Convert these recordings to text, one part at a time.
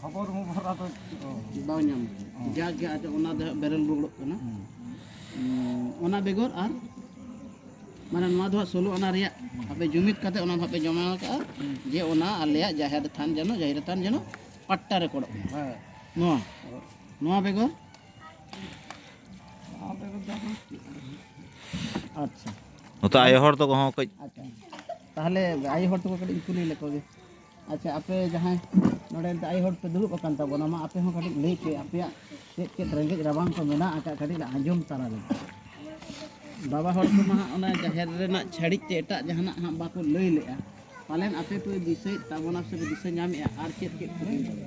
ᱠᱷᱚᱵᱚᱨ ᱢᱚᱵᱚᱨ ᱟᱫᱚ ᱵᱟᱝ ᱧᱟᱢ ᱡᱟᱜᱮ ᱟᱫᱚ ᱚᱱᱟ ᱫᱚ ᱵᱮᱨᱮᱞ ᱵᱩᱜᱲᱚᱜ ᱠᱟᱱᱟ ᱚᱱᱟ ᱵᱮᱜᱚᱨ ᱟᱨ ᱢᱟᱱᱮ ᱱᱚᱣᱟ ᱫᱚ ᱦᱟᱸᱜ ᱥᱳᱞᱳ ᱟᱱᱟ ᱨᱮᱭᱟᱜ ᱟᱯᱮ ᱡᱩᱢᱤᱫ ᱠᱟᱛᱮ ᱚᱱᱟ ᱦᱟᱸᱜ ᱯᱮ ᱡᱚᱢᱟ ᱠᱟᱜᱼᱟ ᱡᱮ ᱚᱱᱟ ᱟᱞᱮᱭᱟᱜ ᱡᱟᱦᱮᱨ ᱛᱷᱟᱱ ᱡᱮᱱᱚ ᱡᱟᱦᱮᱨ ᱛᱷᱟᱱ ᱡᱮᱱᱚ ᱯᱟᱴᱴᱟ ᱨᱮᱠᱚᱨᱰᱚᱜ ᱢᱟ ᱦᱮᱸ ᱱᱚᱣᱟ ᱱᱚᱣᱟ ᱵᱮᱜᱚᱨ ᱱᱚᱣᱟ ᱵᱮᱜᱚᱨ ᱫᱚ ᱟᱫᱚ ᱪᱮᱫ? ᱟᱪᱪᱷᱟ ᱱᱚᱛᱮ ᱟᱭᱳ ᱦᱚᱲ ᱛᱟᱠᱚ ᱦᱚᱸ ᱠᱟᱹᱡ ᱟᱪᱪᱷᱟ ᱛᱟᱦᱚᱞᱮ ᱟᱭᱳ ᱦᱚᱲ ᱛᱟᱠᱚ ᱠᱟᱹᱴᱤᱡ ᱤᱧ ᱠᱩᱞᱤ ᱞᱮᱠᱚ ᱜᱮ ᱟᱪᱪᱷᱟ ᱟᱯᱮ ᱡᱟᱦᱟᱸᱭ ᱱᱚᱰᱮ ᱱᱤᱛᱚᱜ ᱟᱭᱳ ᱦᱚᱲ ᱯᱮ ᱫᱩᱲᱩᱵ ᱟᱠᱟᱱ ᱛᱟᱵᱚᱱᱟ ᱢᱟ ᱟᱯᱮ ᱦᱚᱸ ᱠᱟᱹᱴᱤᱡ ᱞᱟᱹᱭ ᱯᱮ ᱟᱯᱮᱭᱟᱜ ᱪᱮᱫ ᱪᱮᱫ ᱨᱮᱸᱜᱮᱡ ᱨᱟᱵᱟᱝ ᱠᱚ ᱢᱮᱱᱟᱜ ᱟᱠᱟᱫ ᱠᱟᱹᱴᱤᱡ ᱞᱮ ᱟᱸᱡᱚᱢ ᱛᱟᱨᱟ ᱞᱮᱜᱮ ᱵᱟᱵᱟ ᱦᱚᱲ ᱠᱚᱢᱟ ᱦᱟᱸᱜ ᱚᱱᱟ ᱡᱟᱦᱮᱨ ᱨᱮᱱᱟᱜ ᱪᱷᱟᱹᱲᱤᱡ ᱛᱮ ᱮᱴᱟᱜ ᱡᱟᱦᱟᱱᱟᱜ ᱦᱟᱸᱜ ᱵᱟᱠᱚ ᱞᱟᱹᱭ ᱞᱮᱜᱼᱟ ᱯᱟᱞᱮᱱ ᱟᱯᱮ ᱯᱮ ᱫᱤᱥᱟᱹᱭᱮᱫ ᱛᱟᱵᱚᱱᱟ ᱥᱮ ᱯᱮ ᱫᱤᱥᱟᱹ ᱧᱟᱢᱮᱜᱼᱟ ᱟᱨ ᱪᱮᱫ ᱪᱮᱫ ᱠᱚ ᱦᱩᱭᱩᱜ ᱠᱟᱱᱟ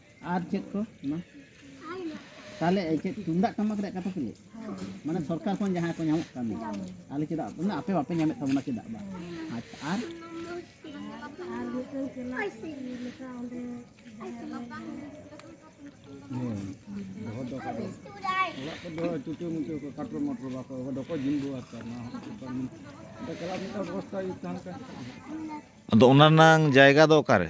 ᱟᱨ ᱪᱮᱫ ᱠᱚ ᱢᱟ ᱛᱟᱦᱚᱞᱮ ᱪᱮᱫ ᱛᱩᱢᱫᱟᱜ ᱴᱟᱢᱟᱠ ᱨᱮᱭᱟᱜ ᱠᱟᱛᱷᱟ ᱯᱮ ᱞᱟᱹᱭ ᱢᱟᱱᱮ ᱥᱚᱨᱠᱟᱨ ᱠᱷᱚᱱ ᱡᱟᱦᱟᱸ ᱠᱚ ᱧᱟᱢᱚᱜ ᱠᱟᱱ ᱟᱞᱮ ᱪᱮᱫᱟᱜ ᱢᱟᱱᱮ ᱟᱯᱮ ᱵᱟᱯᱮ ᱧᱟᱢᱮᱫ ᱛᱟᱵᱚᱱᱟ ᱪᱮᱫᱟᱜ ᱵᱟᱝ ᱟᱪᱪᱷᱟ ᱟᱨ ᱟᱫᱚ ᱚᱱᱟ ᱨᱮᱱᱟᱝ ᱡᱟᱭᱜᱟ ᱫᱚ ᱚᱠᱟᱨᱮ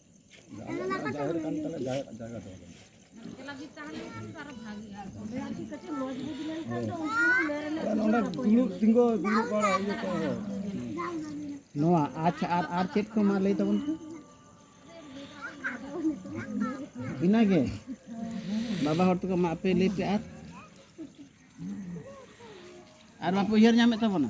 ᱱᱚᱣᱟ ᱟᱪᱪᱷᱟ ᱟᱨ ᱟᱨ ᱪᱮᱫ ᱠᱚ ᱢᱟ ᱞᱟᱹᱭ ᱛᱟᱵᱚᱱ ᱯᱮ ᱤᱱᱟᱹᱜᱮ ᱵᱟᱵᱟ ᱦᱚᱲ ᱛᱟᱠᱚ ᱢᱟ ᱟᱯᱮ ᱞᱟᱹᱭ ᱯᱮ ᱟᱨ ᱟᱨ ᱵᱟᱯᱮ ᱩᱭᱦᱟᱹᱨ ᱧᱟᱢᱮᱫ ᱛᱟᱵᱚᱱᱟ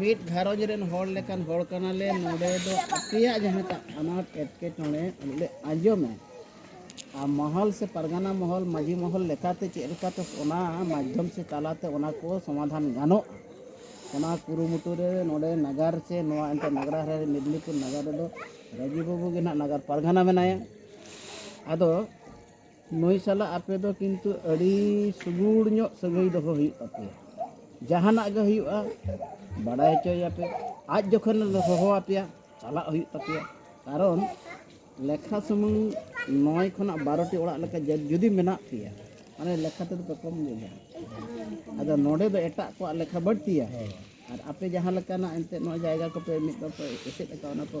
ᱢᱤᱫ ᱜᱷᱟᱨᱚᱸᱡᱽ ᱨᱮᱱ ᱦᱚᱲ ᱞᱮᱠᱟᱱ ᱦᱚᱲ ᱠᱟᱱᱟᱞᱮ ᱱᱚᱰᱮ ᱫᱚ ᱟᱯᱮᱭᱟᱜ ᱡᱟᱦᱟᱸ ᱴᱟᱜ ᱟᱱᱟᱴ ᱮᱴᱠᱮᱴᱚᱬᱮ ᱞᱮ ᱟᱸᱡᱚᱢᱟ ᱟᱨ ᱢᱚᱦᱚᱞ ᱥᱮ ᱯᱟᱨᱜᱟᱱᱟ ᱢᱚᱦᱚᱞ ᱢᱟᱺᱡᱷᱤ ᱢᱚᱦᱚᱞ ᱞᱮᱠᱟᱛᱮ ᱪᱮᱫ ᱞᱮᱠᱟᱛᱮ ᱚᱱᱟ ᱢᱟᱫᱽᱫᱷᱚᱢ ᱥᱮ ᱛᱟᱞᱟᱛᱮ ᱚᱱᱟ ᱠᱚ ᱥᱚᱢᱟᱫᱷᱟᱱ ᱜᱟᱱᱚᱜᱼᱟ ᱚᱱᱟ ᱠᱩᱨᱩᱢᱩᱴᱩ ᱨᱮ ᱱᱚᱰᱮ ᱱᱟᱜᱟᱨ ᱥᱮ ᱱᱚᱣᱟ ᱮᱱᱛᱮᱫ ᱱᱟᱜᱽᱨᱟ ᱨᱮ ᱢᱮᱫᱽᱱᱤᱯᱩᱨ ᱱᱟᱜᱟᱨ ᱨᱮᱫᱚ ᱨᱟᱹᱡᱤ ᱵᱟᱹᱵᱩ ᱜᱮ ᱱᱟᱦᱟᱜ ᱱᱟᱜᱟᱨ ᱯᱟᱨᱜᱟᱱᱟ ᱢᱮᱱᱟᱭᱟ ᱟᱫᱚ ᱱᱩᱭ ᱥᱟᱞᱟᱜ ᱟᱯᱮ ᱫᱚ ᱠᱤᱱᱛᱩ ᱟᱹᱰᱤ ᱥᱩᱜᱩᱲ ᱧᱚᱜ ᱥᱟᱹᱜᱟᱹᱭ ᱫᱚᱦᱚ ᱦᱩᱭᱩᱜ ᱛᱟᱯᱮᱭᱟ ᱡᱟᱦᱟᱱᱟᱜ ᱜᱮ ᱦᱩᱭᱩᱜᱼᱟ ᱵᱟᱰᱟᱭ ᱦᱚᱪᱚᱭᱟᱯᱮ ᱟᱡ ᱡᱚᱠᱷᱚᱱ ᱦᱚᱦᱚ ᱟᱯᱮᱭᱟ ᱪᱟᱞᱟᱜ ᱦᱩᱭᱩᱜ ᱛᱟᱯᱮᱭᱟ ᱠᱟᱨᱚᱱ ᱞᱮᱠᱷᱟ ᱥᱩᱢᱩᱝ ᱱᱚᱭ ᱠᱷᱚᱱᱟᱜ ᱵᱟᱨᱚᱴᱤ ᱚᱲᱟᱜ ᱞᱮᱠᱟ ᱡᱩᱫᱤ ᱢᱮᱱᱟᱜ ᱯᱮᱭᱟ ᱢᱟᱱᱮ ᱞᱮᱠᱷᱟ ᱛᱮᱫᱚ ᱯᱮ ᱠᱚᱢ ᱜᱮᱭᱟ ᱟᱫᱚ ᱱᱚᱰᱮ ᱫᱚ ᱮᱴᱟᱜ ᱠᱚᱣᱟᱜ ᱞᱮᱠᱷᱟ ᱵᱟᱹᱲᱛᱤᱭᱟ ᱟᱨ ᱟᱯᱮ ᱡᱟᱦᱟᱸ ᱞᱮᱠᱟᱱᱟᱜ ᱮᱱᱛᱮᱫ ᱱᱚᱣᱟ ᱡᱟᱭᱜᱟ ᱠᱚᱯᱮ ᱢᱤᱫ ᱫᱚᱯᱮ ᱮᱥᱮᱫ ᱟᱠᱟᱫ ᱚᱱᱟ ᱠᱚ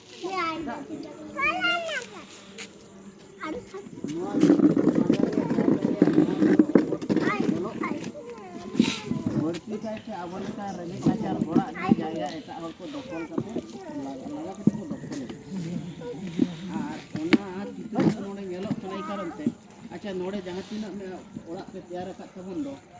ᱵᱟᱹᱲᱛᱤ ᱠᱟᱭᱛᱮ ᱟᱵᱚ ᱞᱮᱠᱟ ᱨᱮᱸᱜᱮᱡ ᱱᱟᱪᱟᱨ ᱦᱚᱲᱟᱜ ᱜᱮ ᱡᱟᱭᱜᱟ ᱮᱴᱟᱜ ᱦᱚᱲ ᱠᱚ ᱫᱚᱠᱷᱚᱞ ᱠᱟᱛᱮ ᱞᱟᱜᱟ ᱞᱟᱜᱟ ᱠᱟᱛᱮ ᱠᱚ ᱫᱚᱠᱷᱚᱞ ᱟᱨ ᱚᱱᱟ ᱪᱤᱛᱟᱹᱨ ᱱᱚᱰᱮ ᱧᱮᱞᱚᱜ ᱠᱟᱱᱟ ᱮᱭ ᱠᱟᱨᱚᱱ ᱛᱮ ᱟᱪᱪᱷᱟ ᱱᱚᱰᱮ ᱡᱟᱦᱟᱸ ᱛᱤᱱᱟᱹᱜ ᱚᱲᱟᱜ ᱯᱮ ᱛᱮᱭᱟᱨ ᱟᱠᱟᱫ ᱛᱟᱵᱚᱱ ᱫᱚ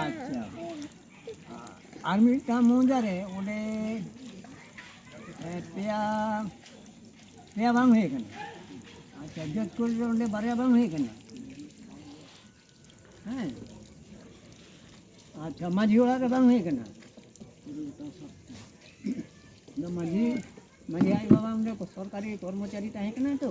ᱟᱪᱪᱷᱟ ᱟᱨ ᱢᱤᱫᱴᱟᱝ ᱢᱚᱡᱟ ᱨᱮ ᱚᱸᱰᱮ ᱯᱮᱭᱟ ᱯᱮᱭᱟ ᱵᱟᱝ ᱦᱩᱭ ᱠᱟᱱᱟ ᱟᱪᱪᱷᱟ ᱡᱟᱹᱛ ᱠᱚ ᱚᱸᱰᱮ ᱵᱟᱨᱭᱟ ᱵᱟᱝ ᱦᱩᱭ ᱠᱟᱱᱟ ᱦᱮᱸ ᱟᱪᱪᱷᱟ ᱢᱟᱺᱡᱷᱤ ᱚᱲᱟᱜ ᱨᱮ ᱵᱟᱝ ᱦᱩᱭ ᱠᱟᱱᱟ ᱢᱟᱺᱡᱷᱤ ᱢᱟᱺᱡᱷᱤ ᱟᱡ ᱵᱟᱵᱟ ᱚᱸᱰᱮ ᱥᱚᱨᱠᱟᱨᱤ ᱠᱚᱨᱢᱚᱪᱟᱨᱤ ᱛᱟᱦᱮᱸ ᱠᱟᱱᱟ ᱛᱚ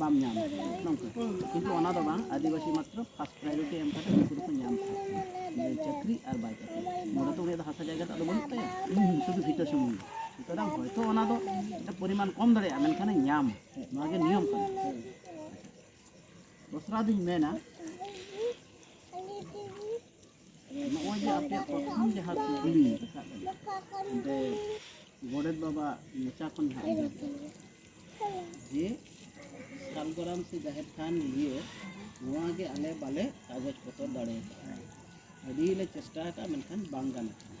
ᱵᱟᱢ ᱧᱟᱢ ᱱᱚᱝᱠᱟ ᱠᱤᱱᱛᱩ ᱚᱱᱟ ᱫᱚ ᱵᱟᱝ ᱟᱹᱫᱤᱵᱟᱹᱥᱤ ᱢᱟᱛᱨᱚ ᱯᱷᱟᱥᱴ ᱯᱨᱟᱭᱳᱨᱤᱴᱤ ᱮᱢ ᱠᱟᱛᱮ ᱩᱱᱠᱩ ᱫᱚᱠᱚ ᱧᱟᱢ ᱠᱚᱣᱟ ᱪᱟᱹᱠᱨᱤ ᱟᱨ ᱵᱟᱭ ᱪᱟᱹᱠᱨᱤ ᱱᱚᱰᱮ ᱫᱚ ᱩᱱᱤᱭᱟᱜ ᱫᱚ ᱦᱟᱥᱟ ᱡᱟᱭᱜᱟ ᱫᱚ ᱟᱫᱚ ᱵᱟᱹᱱᱩᱜ ᱛᱟᱭᱟ ᱥᱩᱫᱷᱩ ᱵᱷᱤᱴᱟᱹ ᱥᱩᱢᱩᱝ ᱥᱩᱛᱚᱨᱟᱝ ᱦᱚᱭᱛᱳ ᱚᱱᱟ ᱫᱚ ᱯᱚᱨᱤᱢᱟᱱ ᱠᱚᱢ ᱫᱟᱲᱮᱭᱟᱜᱼᱟ ᱢᱮᱱᱠᱷᱟᱱ ᱧᱟᱢ ᱱᱚᱣᱟ ᱜᱮ ᱱᱤᱭᱚᱢ ᱠᱟᱱᱟ ᱫᱚᱥᱨᱟ ᱫᱩᱧ ᱢᱮᱱᱟ ᱱᱚᱜᱼᱚᱭ ᱡᱮ ᱟᱯᱮᱭᱟᱜ ᱯᱨᱚᱛᱷᱚᱢ ᱡᱟᱦᱟᱸ ᱠᱩᱠᱞᱤ ᱨᱟᱠᱟᱵ ᱚᱸᱰᱮ ᱜᱚᱰᱮᱛ ᱵᱟᱵᱟ ᱢᱚᱪᱟ ᱠᱷᱚᱱ ᱦᱟᱸᱜ ᱡᱮ ᱥᱟᱞᱜᱚᱨᱟᱢ ᱥᱮ ᱡᱟᱦᱮᱨ ᱛᱷᱟᱱ ᱱᱤᱭᱮ ᱱᱚᱣᱟ ᱜᱮ ᱟᱞᱮ ᱵᱟᱞᱮ ᱠᱟᱜᱚᱡᱽ ᱯᱚᱛᱚᱨ ᱫᱟᱲᱮ ᱟᱠᱟᱫᱼᱟ ᱟᱹᱰᱤ ᱞᱮ ᱪᱮᱥᱴᱟ ᱟᱠᱟᱫᱼᱟ ᱢᱮᱱᱠᱷᱟᱱ ᱵᱟᱝ ᱜᱟᱱ ᱟᱠᱟᱱᱟ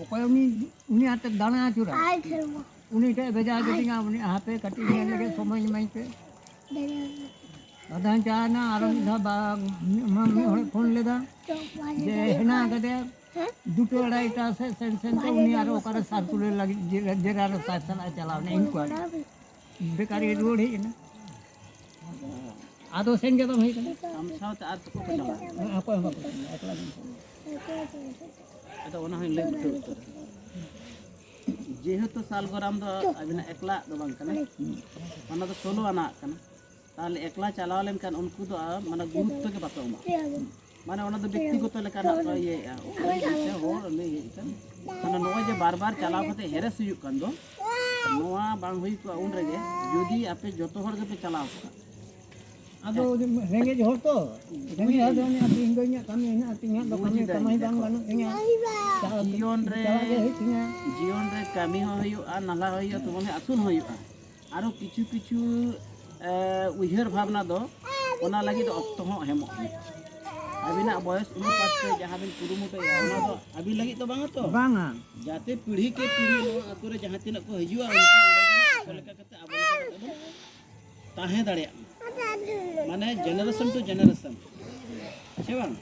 ᱚᱠᱚᱭ ᱩᱱᱤ ᱩᱱᱤ ᱦᱟᱛᱮ ᱫᱟᱬᱟ ᱟᱹᱪᱩᱨᱟ ᱩᱱᱤ ᱴᱷᱮᱡ ᱵᱷᱮᱡᱟ ᱠᱮᱫᱤᱧᱟ ᱩᱱᱤ ᱦᱟᱯᱮ ᱠᱟᱹᱴᱤᱡ ᱧᱮᱞ ᱞᱟᱹᱜᱤᱫ ᱥᱚᱢᱚᱭ ᱤᱢᱟᱹᱧ ᱯᱮ ᱟᱫᱚᱧ ᱪᱟᱞᱟᱣᱱᱟ ᱟᱨᱚ ᱢᱤᱫ ᱫᱷᱟᱣ ᱢᱤᱫ ᱦᱚᱲ ᱯᱷᱳᱱ ᱞᱮᱫᱟ ᱡᱮ ᱦᱮᱱᱟᱜ ᱠᱟᱫᱮᱭᱟ ᱫᱩᱴᱳ ᱟᱲᱟᱭᱴᱟ ᱥᱮᱫ ᱥᱮᱱ ᱥᱮᱱᱛᱮ ᱩᱱᱤ ᱟᱨᱚ ᱚᱠᱟᱨᱮ ᱥᱟᱨᱠᱩᱞᱮᱴ ᱞᱟᱹᱜᱤᱫ ᱡᱮᱨᱟᱨ ᱥᱟᱨ ᱥᱟᱞᱟᱜ ᱪᱟᱞᱟᱣᱱᱟ ᱤᱱᱠᱩᱭᱟᱨᱤ ᱵᱮᱠᱟᱨᱤ ᱨᱩᱣᱟᱹᱲ ᱦᱮᱡ ᱮᱱᱟ ᱟᱫᱚ ᱥᱮᱱ ᱜᱮ ᱵᱟᱝ ᱦᱩᱭ ᱠᱟᱱᱟ ᱟᱢ ᱥᱟᱶᱛᱮ ᱟᱨ ᱛᱚᱠᱚ ᱠᱚ ᱪᱟᱞᱟᱜᱼᱟ ᱚᱠᱚᱭ ᱦᱚᱸ ᱵᱟᱠᱚ ᱥᱮᱱᱟ ᱮᱠᱞᱟ ᱜᱮ ᱟᱫᱚ ᱚᱱᱟ ᱦᱚᱸᱧ ᱞᱟᱹᱭ ᱵᱩᱴᱟᱹ ᱩᱛᱟᱹᱨ ᱡᱮᱦᱮᱛᱩ ᱥᱟᱞᱜᱚᱨᱟᱢ ᱫᱚ ᱟᱵᱤᱱᱟᱜ ᱮᱠᱞᱟᱜ ᱫᱚ ᱵᱟᱝ ᱠᱟᱱᱟ ᱚᱱᱟ ᱫᱚ ᱥᱳᱞᱳ ᱟᱱᱟᱜ ᱠᱟᱱᱟ ᱛᱟᱦᱚᱞᱮ ᱮᱠᱞᱟ ᱪᱟᱞᱟᱣ ᱞᱮᱱᱠᱷᱟᱱ ᱩᱱᱠᱩ ᱫᱚ ᱢᱟᱱᱮ ᱜᱩᱨᱩᱛᱛᱚ ᱜᱮ ᱵᱟᱠᱚ ᱮᱢᱟ ᱢᱟᱱᱮ ᱚᱱᱟ ᱫᱚ ᱵᱮᱠᱛᱤᱜᱚᱛᱚ ᱞᱮᱠᱟᱱᱟᱜ ᱠᱚ ᱤᱭᱟᱹᱭᱮᱫᱼᱟ ᱚᱠᱚᱭ ᱦᱚᱲ ᱩᱱᱤ ᱦᱮᱡ ᱠᱟᱱ ᱢᱟᱱᱮ ᱱᱚᱜᱼᱚᱭ ᱡᱮ ᱵᱟᱨ ᱵᱟᱨ ᱪᱟᱞᱟᱣ ᱠᱟᱛᱮ ᱦᱮᱨᱮᱥ ᱦᱩᱭᱩᱜ ᱠᱟᱱ ᱫᱚ ᱱᱚᱣᱟ ᱵᱟᱝ ᱦᱩᱭ ᱠᱚᱜᱼᱟ ᱩᱱ ᱨᱮᱜᱮ ᱡᱩᱫᱤ ᱟᱯᱮ ᱡᱚᱛᱚ ᱦᱚᱲ ᱜᱮᱯᱮ ᱪᱟᱞᱟᱣ ᱠᱚᱜᱼᱟ ᱟᱫᱚ ᱨᱮᱸᱜᱮᱡ ᱦᱚᱲ ᱛᱚ ᱨᱮᱸᱜᱮᱡ ᱦᱚᱲ ᱫᱚ ᱚᱱᱮ ᱛᱮᱦᱮᱧ ᱫᱚ ᱤᱧᱟᱹᱜ ᱠᱟᱹᱢᱤ ᱦᱮᱱᱟᱜᱼᱟ ᱛᱮᱦᱮᱧ ᱫᱚ ᱠᱟᱹᱢᱤ ᱠᱟᱹᱢᱤ ᱵᱟᱝ ᱵᱟᱹᱱᱩᱜ ᱛᱤᱧᱟ ᱡᱤᱭᱚᱱ ᱨᱮ ᱡᱤᱭᱚᱱ ᱨᱮ ᱠᱟᱹᱢᱤ ᱦᱚᱸ ᱦᱩᱭᱩᱜᱼᱟ ᱱᱟᱞᱦᱟ ᱦᱚᱸ ᱦᱩᱭᱩᱜᱼᱟ ᱛᱚᱵᱮ ᱟᱹᱥᱩᱞ ᱦᱚᱸ ᱦᱩᱭᱩᱜᱼᱟ ᱟᱨᱚ ᱠᱤᱪᱷᱩ ᱠᱤᱪᱷᱩ ᱩᱭᱦᱟᱹᱨ ᱵᱷᱟᱵᱽᱱᱟ ᱫᱚ ᱚᱱᱟ ᱞᱟᱹᱜᱤᱫ ᱚᱠᱛᱚ ᱦᱚᱸ ᱮᱢᱚᱜ ᱦᱩᱭᱩᱜᱼᱟ ᱟᱹᱵᱤᱱᱟᱜ ᱵᱚᱭᱚᱥ ᱚᱱᱩᱯᱟᱛ ᱛᱮ ᱡᱟᱦᱟᱸ ᱵᱤᱱ ᱠᱩᱨᱩᱢᱩᱴᱩᱭᱟ ᱚᱱᱟ ᱫᱚ ᱟᱹᱵᱤᱱ ᱞᱟᱹᱜᱤᱫ ᱫᱚ ᱵᱟᱝᱟ ᱛᱚ ᱵᱟᱝᱟ ᱡᱟᱛᱮ ᱯᱤᱲᱦᱤ ᱠᱮ ᱯᱤᱲᱦᱤ ᱱᱚᱣᱟ ᱟᱛᱳ ᱨᱮ ᱡᱟᱦᱟᱸ ᱛᱤᱱᱟᱹᱜ ᱠᱚ ᱦᱤᱡᱩᱜᱼᱟ ᱩᱱᱠᱩ ᱚᱸᱰᱮ ᱞᱮᱠᱟ ᱠᱟᱛᱮ ᱟᱵᱚ ᱞᱮᱠᱟ ᱠᱟᱛᱮ ᱵᱚᱱ ᱛᱟᱦᱮᱸ ᱫᱟᱲᱮᱭᱟᱜ ᱢᱟ ᱢᱟᱱᱮ ᱡᱮᱱᱟᱨᱮᱥᱚᱱ ᱴᱩ ᱡᱮᱱᱟᱨᱮᱥᱚᱱ ᱥᱮ ᱵᱟᱝ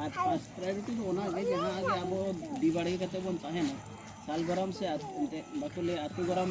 ᱟᱨ ᱯᱷᱟᱥᱴ ᱯᱨᱟᱭᱳᱨᱤᱴᱤ ᱫᱚ ᱚᱱᱟᱜᱮ ᱡᱟᱦᱟᱸ ᱜᱮ ᱟᱵᱚ ᱰᱤ ᱵᱟᱲᱜᱮ ᱠᱟᱛᱮ ᱵᱚᱱ ᱛᱟᱦᱮᱱᱟ ᱥᱟᱞ ᱜᱚᱨᱚᱢ ᱥᱮ ᱵᱟᱠᱚ ᱞᱟᱹᱭᱟ ᱟᱛᱳ ᱜᱚᱨᱚᱢ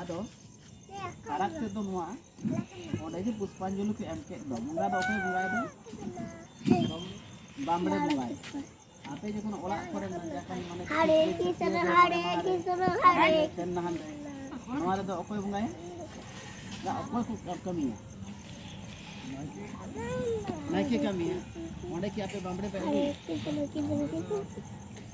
ᱟᱫᱚ ᱯᱷᱟᱨᱟᱠ ᱛᱮᱫ ᱫᱚ ᱱᱚᱣᱟ ᱚᱸᱰᱮ ᱡᱮ ᱯᱩᱥᱯᱟᱧᱡᱚᱞᱤ ᱠᱚ ᱮᱢ ᱠᱮᱫ ᱫᱚ ᱵᱚᱸᱜᱟ ᱫᱚ ᱚᱠᱚᱭ ᱵᱚᱸᱜᱟᱭᱮᱫᱟ ᱵᱟᱢᱲᱮ ᱵᱚᱸᱜᱟᱭ ᱟᱯᱮ ᱡᱚᱠᱷᱚᱱ ᱚᱲᱟᱜ ᱠᱚᱨᱮ ᱢᱟᱱᱮ ᱦᱟᱲᱮ ᱠᱤᱥᱚᱨ ᱦᱟᱲᱮ ᱠᱤᱥᱚᱨ ᱦᱟᱲᱮ ᱥᱮᱱ ᱱᱟᱦᱟᱱ ᱨᱮ ᱱᱚᱣᱟ ᱨᱮᱫᱚ ᱚᱠᱚᱭ ᱵᱚᱸᱜᱟᱭᱟ ᱫᱟ ᱚᱠᱚᱭ ᱠᱚ ᱠᱟᱹᱢᱤᱭᱟ ᱱᱟᱭᱠᱮ ᱠᱟᱹᱢᱤᱭᱟ ᱚᱸᱰᱮ ᱠᱤ ᱟᱯᱮ ᱵᱟᱢᱲᱮ ᱯᱮ ᱟᱹᱜᱩᱭᱟ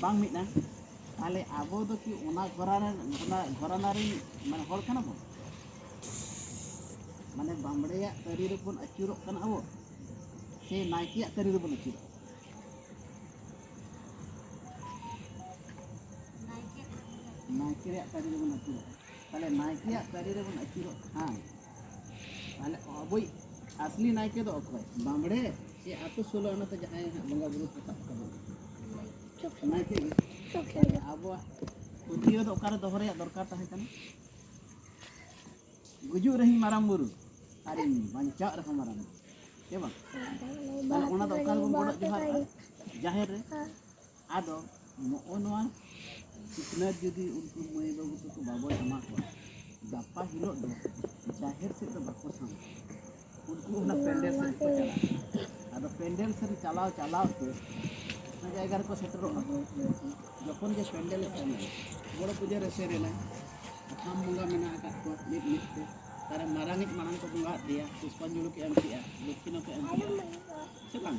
ᱵᱟᱝ ᱢᱤᱫᱼᱟ ᱛᱟᱦᱚᱞᱮ ᱟᱵᱚ ᱫᱚ ᱠᱤ ᱚᱱᱟ ᱜᱷᱚᱨᱟᱱᱟ ᱚᱱᱟ ᱜᱷᱚᱨᱟᱱᱟ ᱨᱮᱱ ᱢᱟᱱᱮ ᱦᱚᱲ ᱠᱟᱱᱟ ᱵᱚᱱ ᱢᱟᱱᱮ ᱵᱟᱢᱲᱮᱭᱟᱜ ᱛᱟᱹᱨᱤ ᱨᱮᱵᱚᱱ ᱟᱹᱪᱩᱨᱚᱜ ᱠᱟᱱᱟ ᱟᱵᱚ ᱥᱮ ᱱᱟᱭᱠᱮᱭᱟᱜ ᱛᱟᱹᱨᱤ ᱨᱮᱵᱚᱱ ᱟᱹᱪᱩᱨᱚᱜ ᱠᱟᱱᱟ ᱱᱟᱭᱠᱮᱭᱟᱜ ᱛᱟᱹᱨᱤ ᱨᱮᱵᱚᱱ ᱟᱹᱪᱩᱨᱚᱜ ᱠᱟᱱᱟ ᱛᱟᱦᱚᱞᱮ ᱱᱟᱭᱠᱮᱭᱟᱜ ᱛᱟᱹᱨᱤ ᱨᱮᱵᱚᱱ ᱟᱹᱪᱩᱨᱚᱜ ᱠᱷᱟᱱ ᱢᱟᱱᱮ ᱟᱵᱚᱭᱤᱡ ᱟᱥᱞᱤ ᱱᱟᱭᱠᱮ ᱫᱚ ᱚᱠᱚᱭ ᱵᱟᱢᱲᱮ ᱥᱮ ᱟᱛᱳ ᱥᱳᱞᱳ ᱟᱱᱟᱛᱮ ᱡᱟᱦᱟᱸᱭ ᱦᱟᱸᱜ ᱵᱚᱸᱜᱟ ᱵᱩᱨᱩ ᱠᱚ ᱥᱟᱵ ᱛᱟᱵᱚᱱ ᱱᱟᱭᱠᱮ ᱜᱮ ᱢᱟᱱᱮ ᱟᱵᱚᱣᱟᱜ ᱯᱟᱹᱛᱭᱟᱹᱣ ᱫᱚ ᱚᱠᱟᱨᱮ ᱫᱚᱦᱚ ᱨᱮᱭᱟᱜ ᱫᱚᱨᱠᱟᱨ ᱛᱟᱦᱮᱸ ᱠᱟᱱᱟ ᱜᱩᱡᱩᱜ ᱨᱮᱦᱚᱸᱧ ᱢᱟᱨᱟᱝ ᱵᱩᱨᱩ ᱟᱨ ᱤᱧ ᱵᱟᱧᱪᱟᱜ ᱨᱮᱦᱚᱸ ᱢᱟᱨᱟᱝ ᱵᱩᱨᱩ ᱦᱮᱸ ᱵᱟᱝ ᱛᱟᱦᱚᱞᱮ ᱚᱱᱟ ᱫᱚ ᱚᱠᱟ ᱨᱮᱵᱚᱱ ᱜᱚᱰᱚᱜ ᱡᱚᱦᱟᱨᱚᱜᱼᱟ ᱡᱟᱦᱮᱨ ᱨᱮ ᱟᱫᱚ ᱱᱚᱜᱼᱚ ᱱᱚᱣᱟ ᱥᱤᱠᱷᱱᱟᱹᱛ ᱡᱩᱫᱤ ᱩᱱᱠᱩ ᱢᱟᱹᱭ ᱵᱟᱹᱵᱩ ᱛᱟᱠᱚ ᱵᱟᱵᱚᱱ ᱮᱢᱟ ᱠᱚᱣᱟ ᱜᱟᱯᱟ ᱦᱤᱞᱳᱜ ᱫᱚ ᱡᱟᱦᱮᱨ ᱥᱮᱫ ᱫᱚ ᱵᱟᱠᱚ ᱥᱟᱢᱟᱜ ᱩᱱᱠᱩ ᱚᱱᱟ ᱯᱮᱱᱰᱮᱞ ᱥᱮᱫ ᱠᱚ ᱪᱟᱞᱟᱜᱼᱟ ᱟᱫᱚ ᱯᱮᱱᱰᱮᱞ ᱥᱮᱫ ᱪᱟᱞᱟᱣ ᱪᱟᱞᱟᱣ ᱛᱮ ᱚᱱᱟ ᱡᱟᱭᱜᱟ ᱨᱮᱠᱚ ᱥᱮᱴᱮᱨᱚᱜᱼᱟ ᱡᱚᱠᱷᱚᱱ ᱜᱮ ᱯᱮᱱᱰᱮᱞ ᱥᱮᱱᱟ ᱵᱚᱲᱚ ᱯᱩᱡᱟᱹ ᱨᱮ ᱥᱮᱱᱟ ᱟᱢ ᱵᱚᱸᱜᱟ ᱢᱮᱱᱟᱜ ᱟᱠᱟᱫ ᱠᱚᱣᱟ ᱢᱤᱫ ᱢᱤᱫ ᱛᱮ ᱛᱟᱨᱮ ᱢᱟᱨᱟᱝᱤᱡ ᱢᱟᱲᱟᱝ ᱠᱚ ᱵᱚᱸᱜᱟ ᱟᱫᱮᱭᱟ ᱯᱩᱥᱯᱟᱧᱡᱚᱞᱤ ᱠᱚ ᱮᱢ ᱠᱮᱜᱼᱟ ᱫᱚᱠᱠᱷᱤᱱᱟ ᱠᱚ ᱮᱢ ᱠᱮᱜᱼᱟ ᱥᱮ ᱵᱟᱝ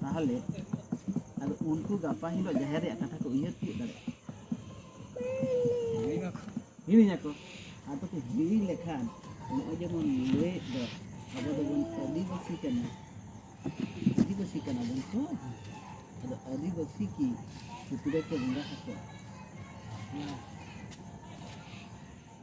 ᱛᱟᱦᱚᱞᱮ ᱟᱫᱚ ᱩᱱᱠᱩ ᱜᱟᱯᱟ ᱦᱤᱞᱳᱜ ᱡᱟᱦᱮᱨ ᱨᱮᱭᱟᱜ ᱠᱟᱛᱷᱟ ᱠᱚ ᱩᱭᱦᱟᱹᱨ ᱛᱤᱭᱳᱜ ᱫᱟᱲᱮᱭᱟᱜᱼᱟ ᱦᱤᱲᱤᱧ ᱟᱠᱚ ᱟᱫᱚ ᱠᱚ ᱦᱤᱲᱤᱧ ᱞᱮᱠᱷᱟᱱ ᱱᱚᱜᱼᱚᱭ ᱡᱮᱢᱚᱱ ᱞᱟᱹᱭᱮᱫ ᱫᱚ ᱟᱵᱚ ᱫᱚᱵᱚᱱ ᱟᱹᱫᱤᱵᱟᱹᱥᱤ ᱠᱟᱱᱟ ᱟᱹᱫᱤᱵᱟᱹᱥᱤ ᱠᱟᱱᱟ ᱵᱚᱱ ᱛᱚ ᱟᱫᱚ ᱟᱹᱫᱤᱵᱟᱹᱥᱤ ᱠᱤ ᱥᱩᱠᱨᱤ ᱠᱚ ᱵᱚᱸᱜᱟ ᱟᱠᱚᱣᱟ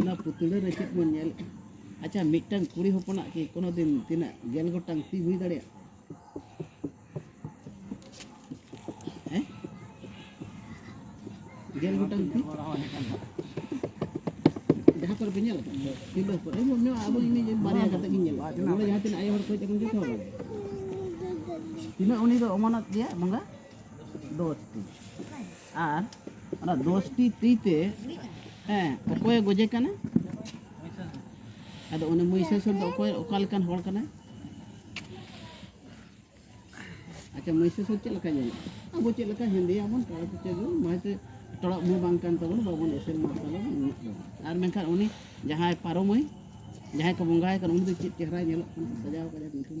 ᱚᱱᱟ ᱯᱩᱛᱲᱟᱹ ᱨᱮ ᱪᱮᱫ ᱵᱚᱱ ᱧᱮᱞᱮᱫᱼᱟ ᱟᱪᱪᱷᱟ ᱢᱤᱫᱴᱟᱝ ᱠᱩᱲᱤ ᱦᱚᱯᱚᱱᱟᱜ ᱠᱤ ᱠᱳᱱᱳ ᱫᱤᱱ ᱛᱤᱱᱟᱹᱜ ᱜᱮᱞ ᱜᱚᱴᱟᱝ ᱛᱤ ᱦᱩᱭ ᱫᱟᱲᱮᱭᱟᱜᱼᱟ ᱦᱮᱸ ᱜᱮᱞ ᱜᱚᱴᱟᱝ ᱛᱤ ᱡᱟᱦᱟᱸ ᱠᱚᱨᱮ ᱯᱮ ᱧᱮᱞ ᱟᱠᱟᱫ ᱛᱤᱨᱞᱟᱹ ᱦᱚᱯᱚᱱ ᱤᱧ ᱢᱚᱱᱮ ᱦᱚᱭ ᱟᱵᱚ ᱤᱧ ᱵᱟᱨᱭᱟ ᱠᱟᱛᱮ ᱜᱤᱧ ᱧᱮᱞ ᱟᱠᱟᱫ ᱱᱚᱰᱮ ᱡᱟᱦᱟᱸ ᱛᱤᱱᱟᱹᱜ ᱟᱭᱳ ᱦᱚᱲ ᱠᱚ ᱦᱮᱡ ᱟᱠᱟᱱ ᱡᱚᱛᱚ ᱦᱚᱲ ᱛᱤᱱᱟᱹᱜ ᱩᱱᱤ ᱫᱚ ᱚᱢᱚᱱᱟᱛ ᱜᱮᱭᱟ ᱵᱚᱸᱜᱟ ᱫᱚᱥᱴᱤ ᱟᱨ ᱚᱱᱟ ᱫᱚᱥᱴᱤ ᱛᱤ ᱛᱮ ᱦᱮᱸ ᱚᱠᱚᱭᱮ ᱜᱚᱡᱮ ᱠᱟᱱᱟ ᱟᱫᱚ ᱩᱱᱤ ᱢᱚᱭᱥᱟᱥᱩᱨ ᱫᱚ ᱚᱠᱚᱭ ᱚᱠᱟ ᱞᱮᱠᱟᱱ ᱦᱚᱲ ᱠᱟᱱᱟᱭ ᱟᱪᱪᱷᱟ ᱢᱚᱭᱥᱟᱥᱩᱨ ᱪᱮᱫ ᱞᱮᱠᱟ ᱧᱮᱞᱚᱜᱼᱟ ᱟᱵᱚ ᱪᱮᱫ ᱞᱮᱠᱟ ᱦᱮᱸᱫᱮᱭᱟᱵᱚᱱ ᱴᱚᱲᱟ ᱠᱚᱪᱮ ᱜᱮ ᱢᱟᱭᱛᱮ ᱴᱚᱲᱟ ᱢᱩ ᱵᱟᱝ ᱠᱟᱱ ᱛᱟᱵᱚᱱ ᱵᱟᱵᱚᱱ ᱮᱥᱮᱞ ᱢᱟᱨᱥᱟᱞ ᱟᱵᱚᱱ ᱩᱱᱟᱹᱜ ᱫᱚ ᱟᱨ ᱢᱮᱱᱠᱷᱟᱱ ᱩᱱᱤ ᱡᱟᱦᱟᱸᱭ ᱯᱟᱨᱚᱢᱟᱹᱭ ᱡᱟᱦᱟᱸᱭ ᱠᱚ ᱵᱚᱸᱜᱟᱭ ᱠᱟᱱᱟ ᱩᱱᱤ ᱫᱚ ᱪᱮᱫ ᱪᱮᱦᱨᱟᱭ ᱧᱮᱞᱚᱜ ᱠᱟᱱᱟ ᱥᱟᱡᱟᱣ ᱠᱟᱫᱮ ᱢᱩᱴᱷᱟᱹᱱ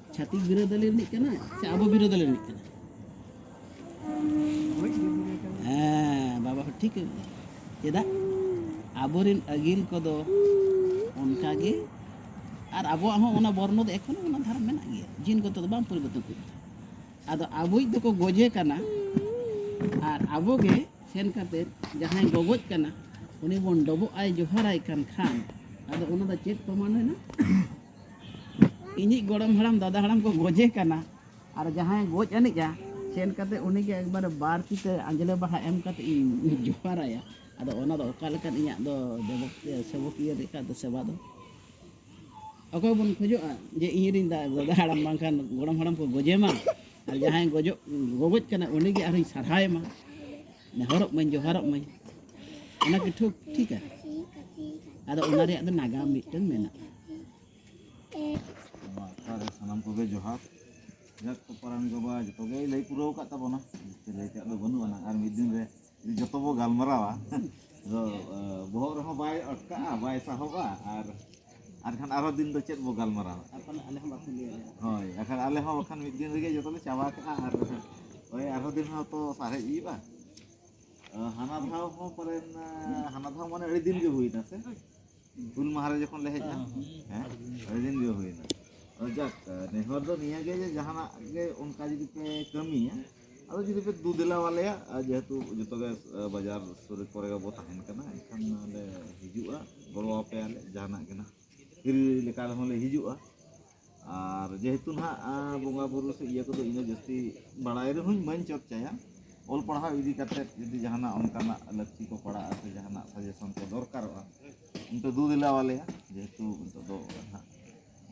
ᱪᱷᱟᱹᱛᱤᱠ ᱵᱤᱨᱳᱫᱟᱹᱞᱤ ᱨᱤᱱᱤᱡ ᱠᱟᱱᱟᱭ ᱥᱮ ᱟᱵᱚ ᱵᱤᱨᱳᱫᱟᱹᱞᱤ ᱨᱤᱱᱤᱡ ᱠᱟᱱᱟᱭ ᱦᱮᱸ ᱵᱟᱵᱟ ᱦᱚᱸ ᱴᱷᱤᱠ ᱪᱮᱫᱟᱜ ᱟᱵᱚᱨᱮᱱ ᱟᱹᱜᱤᱞ ᱠᱚᱫᱚ ᱚᱱᱠᱟᱜᱮ ᱟᱨ ᱟᱵᱚᱣᱟᱜ ᱦᱚᱸ ᱚᱱᱟ ᱵᱚᱨᱱᱚ ᱫᱚ ᱮᱠᱷᱚᱱ ᱚᱱᱟ ᱫᱷᱟᱨᱟ ᱢᱮᱱᱟᱜ ᱜᱮᱭᱟ ᱡᱤᱱ ᱠᱚᱛᱮ ᱫᱚ ᱵᱟᱝ ᱯᱚᱨᱤᱵᱚᱨᱛᱚᱱ ᱠᱚ ᱟᱫᱚ ᱟᱵᱚᱭᱤᱡ ᱫᱚᱠᱚ ᱜᱚᱡᱮ ᱠᱟᱱᱟ ᱟᱨ ᱟᱵᱚᱜᱮ ᱥᱮᱱ ᱠᱟᱛᱮ ᱡᱟᱦᱟᱸᱭ ᱜᱚᱜᱚᱡ ᱠᱟᱱᱟ ᱩᱱᱤ ᱵᱚᱱ ᱰᱚᱵᱚᱜ ᱟᱭ ᱡᱚᱦᱟᱨᱟᱭ ᱠᱟᱱ ᱠᱷᱟᱱ ᱟᱫᱚ ᱚᱱᱟ ᱫᱚ ᱪᱮᱫ ᱯᱨᱚᱢᱟᱱ ᱮᱱᱟ ᱤᱧᱤᱡ ᱜᱚᱲᱚᱢ ᱦᱟᱲᱟᱢ ᱫᱟᱫᱟ ᱦᱟᱲᱟᱢ ᱠᱚ ᱜᱚᱡᱮ ᱠᱟᱱᱟ ᱟᱨ ᱡᱟᱦᱟᱸᱭ ᱜᱚᱡ ᱟᱹᱱᱤᱡᱼᱟ ᱥᱮᱱ ᱠᱟᱛᱮ ᱩᱱᱤᱜᱮ ᱮᱠᱵᱟᱨᱮ ᱵᱟᱨ ᱛᱤᱛᱮ ᱟᱸᱡᱽᱞᱮ ᱵᱟᱦᱟ ᱮᱢ ᱠᱟᱛᱮ ᱤᱧ ᱡᱚᱦᱟᱨᱟᱭᱟ ᱟᱫᱚ ᱚᱱᱟ ᱫᱚ ᱚᱠᱟ ᱞᱮᱠᱟᱱ ᱤᱧᱟᱹᱜ ᱫᱚ ᱥᱮᱵᱚᱠᱤᱭᱟᱹ ᱞᱮᱠᱟ ᱫᱚ ᱥᱮᱵᱟ ᱫᱚ ᱚᱠᱚᱭ ᱵᱚᱱ ᱠᱷᱚᱡᱚᱜᱼᱟ ᱡᱮ ᱤᱧᱨᱮᱱ ᱫᱟᱫᱟ ᱦᱟᱲᱟᱢ ᱵᱟᱝᱠᱷᱟᱱ ᱜᱚᱲᱚᱢ ᱦᱟᱲᱟᱢ ᱠᱚ ᱜᱚᱡᱮ ᱢᱟ ᱟᱨ ᱡᱟᱦᱟᱸᱭ ᱜᱚᱡᱚᱜ ᱜᱚᱜᱚᱡ ᱠᱟᱱᱟ ᱩᱱᱤᱜᱮ ᱟᱨᱦᱚᱸᱧ ᱥᱟᱨᱦᱟᱣᱮᱢᱟ ᱱᱮᱦᱚᱨᱚᱜ ᱢᱟᱹᱧ ᱡᱚᱦᱟᱨᱚᱜ ᱢᱟᱹᱧ ᱚᱱᱟ ᱠᱤ ᱴᱷᱤᱠ ᱴᱷᱤᱠᱟ ᱟᱫᱚ ᱚᱱᱟ ᱨᱮᱭᱟᱜ ᱫᱚ ᱱᱟᱜᱟᱢ ᱢᱤᱫᱴᱟᱝ ᱢᱮᱱᱟᱜᱼᱟ ᱚᱠᱟᱨᱮ ᱥᱟᱱᱟᱢ ᱠᱚᱜᱮ ᱡᱚᱦᱟᱨ ᱡᱟᱠ ᱠᱚ ᱯᱟᱨᱟᱱ ᱜᱚᱵᱟ ᱡᱚᱛᱚ ᱜᱮᱭ ᱞᱟᱹᱭ ᱯᱩᱨᱟᱹᱣ ᱟᱠᱟᱫ ᱛᱟᱵᱚᱱᱟ ᱞᱟᱹᱭ ᱛᱮᱭᱟᱜ ᱫᱚ ᱵᱟᱹᱱᱩᱜ ᱟᱱᱟ ᱟᱨ ᱢᱤᱫ ᱫᱤᱱ ᱨᱮ ᱡᱚᱛᱚ ᱵᱚ ᱜᱟᱞᱢᱟᱨᱟᱣᱟ ᱟᱫᱚ ᱵᱚᱦᱚᱜ ᱨᱮᱦᱚᱸ ᱵᱟᱭ ᱟᱴᱠᱟᱜᱼᱟ ᱵᱟᱭ ᱥᱟᱦᱚᱵᱟ ᱟᱨ ᱟᱨ ᱠᱷᱟᱱ ᱟᱨᱚ ᱫᱤᱱ ᱫᱚ ᱪᱮᱫ ᱵᱚ ᱜᱟᱞᱢᱟᱨᱟᱣᱟ ᱦᱳᱭ ᱵᱟᱠᱷᱟᱱ ᱟᱞᱮ ᱦᱚᱸ ᱵᱟᱠᱷᱟᱱ ᱢᱤᱫ ᱫᱤᱱ ᱨᱮᱜᱮ ᱡᱚᱛᱚ ᱞᱮ ᱪᱟᱵᱟ ᱠᱟᱜᱼᱟ ᱟᱨ ᱳᱭ ᱟᱨᱦᱚᱸ ᱫᱤᱱ ᱦᱚᱸ ᱛᱚ ᱥᱟᱨᱮᱡ ᱦᱩᱭᱩᱜᱼᱟ ᱦᱟᱱᱟ ᱫᱷᱟᱣ ᱦᱚᱸ ᱯᱟᱞᱮᱱ ᱦᱟᱱᱟ ᱫᱷᱟᱣ ᱢᱟᱱᱮ ᱟᱹᱰᱤ ᱫᱤᱱ ᱜᱮ ᱦᱩᱭᱱᱟ ᱥᱮ ᱦᱩᱞ ᱢᱟᱦᱟ ᱨᱮ ᱡᱚᱠᱷᱚᱱ ᱞᱮ ᱦᱮᱡ ᱮᱱᱟ ᱦᱮᱸ ᱟᱹᱰᱤ ᱫᱤᱱ ᱜᱮ ᱦᱩᱭᱱᱟ ᱡᱟᱠ ᱱᱮᱦᱚᱨ ᱫᱚ ᱱᱤᱭᱟᱹᱜᱮ ᱡᱮ ᱡᱟᱦᱟᱱᱟᱜ ᱜᱮ ᱚᱱᱠᱟ ᱡᱩᱫᱤ ᱯᱮ ᱠᱟᱹᱢᱤᱭᱟ ᱟᱫᱚ ᱡᱩᱫᱤ ᱯᱮ ᱫᱩ ᱫᱮᱞᱟ ᱟᱞᱮᱭᱟ ᱡᱮᱦᱮᱛᱩ ᱡᱚᱛᱚ ᱜᱮ ᱵᱟᱡᱟᱨ ᱥᱩᱨ ᱠᱚᱨᱮ ᱜᱮᱵᱚ ᱛᱟᱦᱮᱱ ᱠᱟᱱᱟ ᱮᱱᱠᱷᱟᱱ ᱞᱮ ᱦᱤᱡᱩᱜᱼᱟ ᱜᱚᱲᱚ ᱟᱯᱮᱭᱟᱞᱮ ᱡᱟᱦᱟᱱᱟᱜ ᱜᱮ ᱱᱟᱦᱟᱜ ᱦᱤᱨᱤ ᱞᱮᱠᱟ ᱨᱮᱦᱚᱸ ᱞᱮ ᱦᱤᱡᱩᱜᱼᱟ ᱟᱨ ᱡᱮᱦᱮᱛᱩ ᱱᱟᱦᱟᱜ ᱵᱚᱸᱜᱟ ᱵᱩᱨᱩ ᱥᱮ ᱤᱭᱟᱹ ᱠᱚᱫᱚ ᱤᱧ ᱫᱚ ᱡᱟᱹᱥᱛᱤ ᱵᱟᱲᱟᱭ ᱨᱮᱦᱚᱸᱧ ᱵᱟᱹᱧ ᱪᱚᱨᱪᱟᱭᱟ ᱚᱞ ᱯᱟᱲᱦᱟᱣ ᱤᱫᱤ ᱠᱟᱛᱮᱫ ᱡᱩᱫᱤ ᱡᱟᱦᱟᱱᱟᱜ ᱚᱱᱠᱟᱱᱟᱜ ᱞᱟᱹᱠᱛᱤ ᱠᱚ ᱯᱟᱲᱟᱜᱼᱟ ᱥᱮ ᱡᱟᱦᱟᱱᱟᱜ ᱥᱟᱡᱮᱥᱚᱱ ᱠᱚ ᱫᱚᱨᱠᱟᱨᱚᱜᱼᱟ ᱚᱱᱛᱮ ᱫᱩ ᱫᱮᱞᱟ ᱟᱞᱮᱭᱟ ᱡᱮᱦᱮᱛᱩ ᱱᱤᱛᱚᱜ ᱫᱚ ᱱᱟᱦᱟᱜ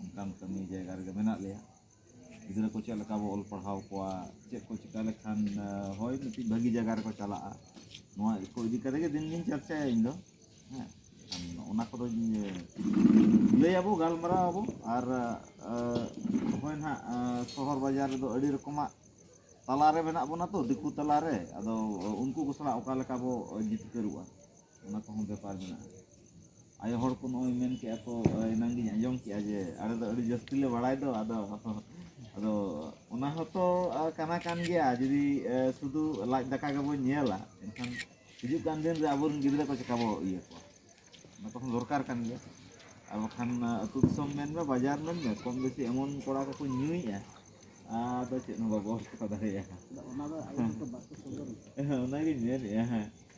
ᱚᱱᱠᱟᱱ ᱠᱟᱹᱢᱤ ᱡᱟᱭᱜᱟ ᱨᱮᱜᱮ ᱢᱮᱱᱟᱜ ᱞᱮᱭᱟ ᱜᱤᱫᱽᱨᱟᱹ ᱠᱚ ᱪᱮᱫ ᱞᱮᱠᱟ ᱵᱚ ᱚᱞ ᱯᱟᱲᱦᱟᱣ ᱠᱚᱣᱟ ᱪᱮᱫ ᱠᱚ ᱪᱤᱠᱟᱹ ᱞᱮᱠᱷᱟᱱ ᱦᱳᱭ ᱢᱤᱫᱴᱤᱡ ᱵᱷᱟᱹᱜᱤ ᱡᱟᱭᱜᱟ ᱨᱮᱠᱚ ᱪᱟᱞᱟᱜᱼᱟ ᱱᱚᱣᱟ ᱠᱚ ᱤᱫᱤ ᱠᱟᱛᱮᱫ ᱜᱮ ᱫᱤᱱ ᱜᱤᱧ ᱪᱟᱨᱪᱟᱭᱟ ᱤᱧ ᱫᱚ ᱦᱮᱸ ᱚᱱᱟ ᱠᱚᱫᱚᱧ ᱞᱟᱹᱭ ᱟᱵᱚ ᱜᱟᱞᱢᱟᱨᱟᱣ ᱟᱵᱚ ᱟᱨ ᱦᱳᱭ ᱱᱟᱦᱟᱜ ᱥᱚᱦᱚᱨ ᱵᱟᱡᱟᱨ ᱨᱮᱫᱚ ᱟᱹᱰᱤ ᱨᱚᱠᱚᱢᱟᱜ ᱛᱟᱞᱟᱨᱮ ᱢᱮᱱᱟᱜ ᱵᱚᱱᱟ ᱛᱚ ᱫᱤᱠᱩ ᱛᱟᱞᱟᱨᱮ ᱟᱫᱚ ᱩᱱᱠᱩ ᱠᱚ ᱥᱟᱞᱟᱜ ᱚᱠᱟ ᱞᱮᱠᱟ ᱵᱚ ᱡᱤᱛᱠᱟᱹᱨᱚᱜᱼᱟ ᱚᱱᱟ ᱠᱚᱦᱚᱸ ᱵᱮᱯᱟᱨ ᱢᱮᱱᱟᱜᱼᱟ ᱟᱭᱳ ᱦᱚᱲ ᱠᱚ ᱱᱚᱜᱼᱚᱭ ᱢᱮᱱ ᱠᱮᱜᱼᱟ ᱠᱚ ᱮᱱᱟᱝ ᱜᱤᱧ ᱟᱸᱡᱚᱢ ᱠᱮᱜᱼᱟ ᱡᱮ ᱟᱞᱮ ᱫᱚ ᱟᱹᱰᱤ ᱡᱟᱹᱥᱛᱤ ᱞᱮ ᱵᱟᱲᱟᱭ ᱫᱚ ᱟᱫᱚ ᱟᱫᱚ ᱚᱱᱟ ᱦᱚᱸᱛᱚ ᱠᱟᱱᱟ ᱠᱟᱱ ᱜᱮᱭᱟ ᱡᱩᱫᱤ ᱥᱩᱫᱩ ᱞᱟᱡ ᱫᱟᱠᱟ ᱜᱮᱵᱚᱱ ᱧᱮᱞᱟ ᱮᱱᱠᱷᱟᱱ ᱦᱤᱡᱩᱜ ᱠᱟᱱ ᱫᱤᱱ ᱨᱮ ᱟᱵᱚᱨᱮᱱ ᱜᱤᱫᱽᱨᱟᱹ ᱠᱚ ᱪᱮᱠᱟ ᱵᱚ ᱤᱭᱟᱹ ᱠᱚᱣᱟ ᱚᱱᱟ ᱠᱚᱦᱚᱸ ᱫᱚᱨᱠᱟᱨ ᱠᱟᱱ ᱜᱮᱭᱟ ᱟᱨ ᱵᱟᱠᱷᱟᱱ ᱟᱹᱛᱩ ᱫᱤᱥᱚᱢ ᱢᱮᱱ ᱢᱮ ᱵᱟᱡᱟᱨ ᱢᱮᱱ ᱢᱮ ᱠᱚᱢ ᱵᱮᱥᱤ ᱮᱢᱚᱱ ᱠᱚᱲᱟ ᱠᱚᱠᱚ ᱧᱩᱭᱮᱜᱼᱟ ᱟᱫᱚ ᱪᱮᱫ ᱦᱚᱸ ᱵᱟᱵᱚ ᱪᱮᱠᱟ ᱫᱟᱲᱮᱭᱟᱜᱼᱟ ᱚᱱᱟᱜᱤᱧ ᱢᱮᱱᱮᱜᱼᱟ ᱦᱮᱸ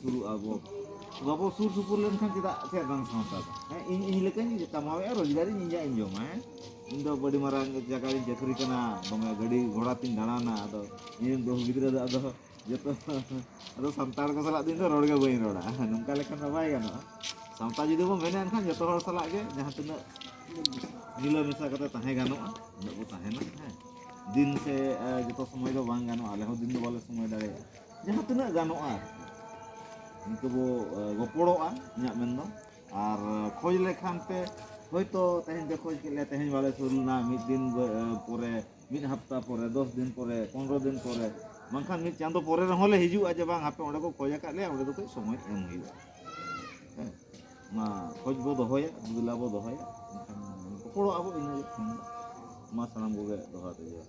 ᱥᱩᱨᱩᱜᱼᱟ ᱵᱚ ᱵᱟᱵᱚ ᱥᱩᱨ ᱥᱩᱯᱩᱨ ᱞᱮᱱᱠᱷᱟᱱ ᱪᱮᱫᱟᱜ ᱪᱮᱫ ᱵᱟᱝ ᱥᱟᱶᱛᱟ ᱫᱚ ᱦᱮᱸ ᱤᱧ ᱤᱧ ᱞᱮᱠᱟᱧ ᱠᱟᱢᱟᱣᱮᱫᱼᱟ ᱨᱳᱡᱽᱜᱟᱨᱤᱧ ᱤᱧᱟᱹᱜ ᱤᱧ ᱡᱚᱢᱟ ᱦᱮᱸ ᱤᱧ ᱫᱚ ᱟᱹᱰᱤ ᱢᱟᱨᱟᱝ ᱡᱟᱭᱜᱟ ᱨᱤᱧ ᱪᱟᱹᱠᱨᱤ ᱠᱟᱱᱟ ᱫᱚᱢᱮ ᱜᱟᱹᱰᱤ ᱜᱷᱚᱲᱟ ᱛᱤᱧ ᱫᱟᱬᱟᱱᱟ ᱟᱫᱚ ᱤᱧᱨᱮᱱ ᱵᱟᱹᱦᱩ ᱜᱤᱫᱽᱨᱟᱹ ᱫᱚ ᱟᱫᱚ ᱡᱚᱛᱚ ᱟᱫᱚ ᱥᱟᱱᱛᱟᱲ ᱠᱚ ᱥᱟᱞᱟᱜ ᱫᱚ ᱤᱧ ᱫᱚ ᱨᱚᱲ ᱜᱮ ᱵᱟᱹᱧ ᱨᱚᱲᱟ ᱱᱚᱝᱠᱟ ᱞᱮᱠᱷᱟᱱ ᱫᱚ ᱵᱟᱭ ᱜᱟᱱᱚᱜᱼᱟ ᱥᱟᱶᱛᱟ ᱡᱩᱫᱤ ᱵᱚᱱ ᱢᱮᱱᱟ ᱮᱱᱠᱷᱟᱱ ᱡᱚᱛᱚ ᱦᱚᱲ ᱥᱟᱞᱟᱜ ᱜᱮ ᱡᱟᱦᱟᱸ ᱛᱤᱱᱟᱹᱜ ᱢᱤᱞᱟᱹ ᱢᱮᱥᱟ ᱠᱟᱛᱮ ᱛᱟᱦᱮᱸ ᱜᱟᱱᱚᱜᱼᱟ ᱩᱱᱟᱹᱜ ᱵᱚ ᱛᱟᱦᱮᱱᱟ ᱦᱮᱸ ᱫᱤᱱ ᱥᱮ ᱡᱚᱛᱚ ᱥᱚᱢᱚᱭ ᱫᱚ ᱵᱟᱝ ᱜᱟᱱᱚᱜᱼᱟ ᱟᱞᱮ ᱦᱚᱸ ᱫᱤᱱ ᱫᱚ ᱵᱟᱞᱮ ᱥᱚᱢᱚᱭ ᱫᱟᱲᱮᱭᱟᱜᱼᱟ ᱡᱟᱦᱟᱸ ᱛᱤᱱᱟᱹᱜ ᱜᱟᱱᱚᱜᱼᱟ ᱟᱨᱠᱤ ᱤᱱᱠᱟᱹ ᱵᱚ ᱜᱚᱯᱚᱲᱚᱜᱼᱟ ᱤᱧᱟᱹᱜ ᱢᱮᱱ ᱫᱚ ᱟᱨ ᱠᱷᱚᱡᱽ ᱞᱮᱠᱷᱟᱱ ᱯᱮ ᱦᱳᱭᱛᱳ ᱛᱮᱦᱮᱧ ᱯᱮ ᱠᱷᱚᱡᱽ ᱠᱮᱫ ᱞᱮᱭᱟ ᱛᱮᱦᱮᱧ ᱵᱟᱞᱮ ᱥᱩᱨ ᱞᱮᱱᱟ ᱢᱤᱫ ᱫᱤᱱ ᱯᱚᱨᱮ ᱢᱤᱫ ᱦᱟᱯᱛᱟ ᱯᱚᱨᱮ ᱫᱚᱥ ᱫᱤᱱ ᱯᱚᱨᱮ ᱯᱚᱱᱨᱚ ᱫᱤᱱ ᱯᱚᱨᱮ ᱵᱟᱝᱠᱷᱟᱱ ᱢᱤᱫ ᱪᱟᱸᱫᱚ ᱯᱚᱨᱮ ᱨᱮᱦᱚᱸ ᱞᱮ ᱦᱤᱡᱩᱜᱼᱟ ᱡᱮ ᱵᱟᱝ ᱟᱯᱮ ᱚᱸᱰᱮ ᱠᱚ ᱠᱷᱚᱡᱽ ᱟᱠᱟᱫ ᱞᱮᱭᱟ ᱚᱸᱰᱮ ᱫᱚ ᱠᱟᱹᱡ ᱥᱚᱢᱚᱭ ᱮᱢ ᱦᱩᱭᱩᱜᱼᱟ ᱦᱮᱸ ᱚᱱᱟ ᱠᱷᱚᱡᱽ ᱵᱚ ᱫᱚᱦᱚᱭᱟ ᱫᱩᱞᱟ ᱵᱚ ᱫᱚᱦᱚᱭᱟ ᱮᱱᱠᱷᱟᱱ ᱜᱚᱯᱚᱲᱚᱜ ᱟᱵᱚ ᱤᱱᱟᱹᱜᱮ ᱢᱟ ᱥᱟᱱᱟᱢ ᱠᱚᱜᱮ ᱫᱚᱦᱲᱟ ᱛᱮ ᱡᱚᱦᱟᱨ